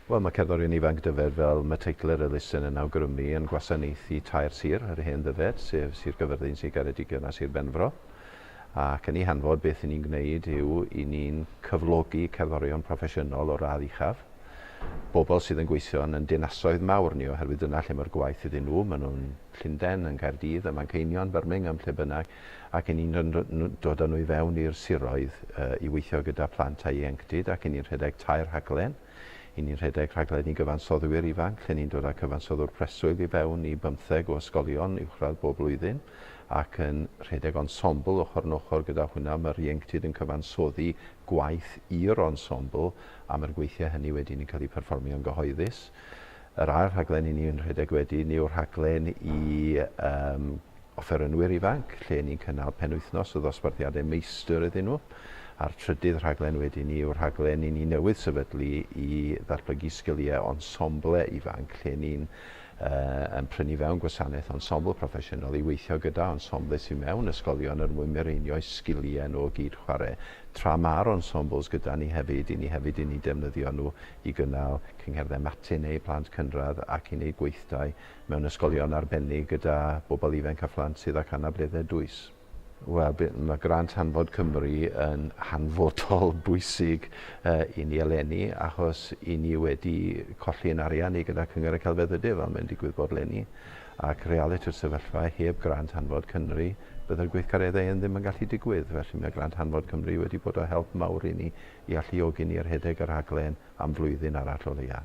Wel, mae cerddorion ifanc Dyfed fel Mateichler Elusen yn awgrymu yn gwasanaethu tair sir ar hen Ddyfed, sef Sir Gyfyrddin, Sir Geredigion a Sir Benfro. Ac yn ei hanfod, beth i ni'n gwneud yw i ni'n cyflogi cerddorion proffesiynol o'r radd uchaf, bobl sydd yn gweithio yn yn dinasoedd mawr ni oherwydd dyna lle mae'r gwaith iddyn nhw, maen nhw'n Llundain, yn Caerdydd, ym Manceinion, Birmingham, lle bynnag. ac yn ni'n dod â nhw i fewn i'r siroedd i weithio gyda phlant a ieuenctid ac yn ni'n rhedeg tair rhaglen. Y ni'n rhedeg rhaglen i gyfansoddwyr ifanc lle ni'n dod â cyfansoddwr preswyl i fewn i bymtheg o ysgolion uwchradd bob blwyddyn ac yn rhedeg ensemble ochr yn ochr gyda hwnna mae'r ieuenctid yn cyfansoddi gwaith i'r ensemble a mae'r gweithiau hynny wedyn yn cael eu perfformio'n gyhoeddus. Yr ail rhaglen i ni'n rhedeg wedyn yw'r rhaglen i yym offerynwyr ifanc, lle ni'n cynnal penwythnos o ddosbarthiadau meistr iddyn nhw, a'r trydydd rhaglen wedyn ni yw'r rhaglen i ni newydd sefydlu i ddatblygu sgiliau ensemble ifanc, lle ni'n yn prynu fewn gwasanaeth ensemble proffesiynol i weithio gyda ensemble sydd mewn ysgolion er mwyn mireinio'u sgiliau nhw o gyd-chwarae, tra ma'r ensembles gyda ni hefyd, i ni hefyd i ni defnyddio nhw i gynnal cyngherddau matinee i blant cynradd ac i wneud gweithdai mewn ysgolion arbennig gyda bobl ifainc a phlant sydd ac anableddau dwys. Wel, mae grant Hanfod Cymru yn hanfodol bwysig i ni eleni achos i ni wedi colli yn arian i gyda Cyngor y Celfyddydau fel mae'n digwydd bod leni ac realiti'r sefyllfa heb grant Hanfod Cynru bydde'r gweithgareddau hyn ddim yn gallu digwydd felly mae grant Hanfod Cymru wedi bod o help mawr i ni i alluogi ni i rhedeg y rhaglen am flwyddyn arall o leia.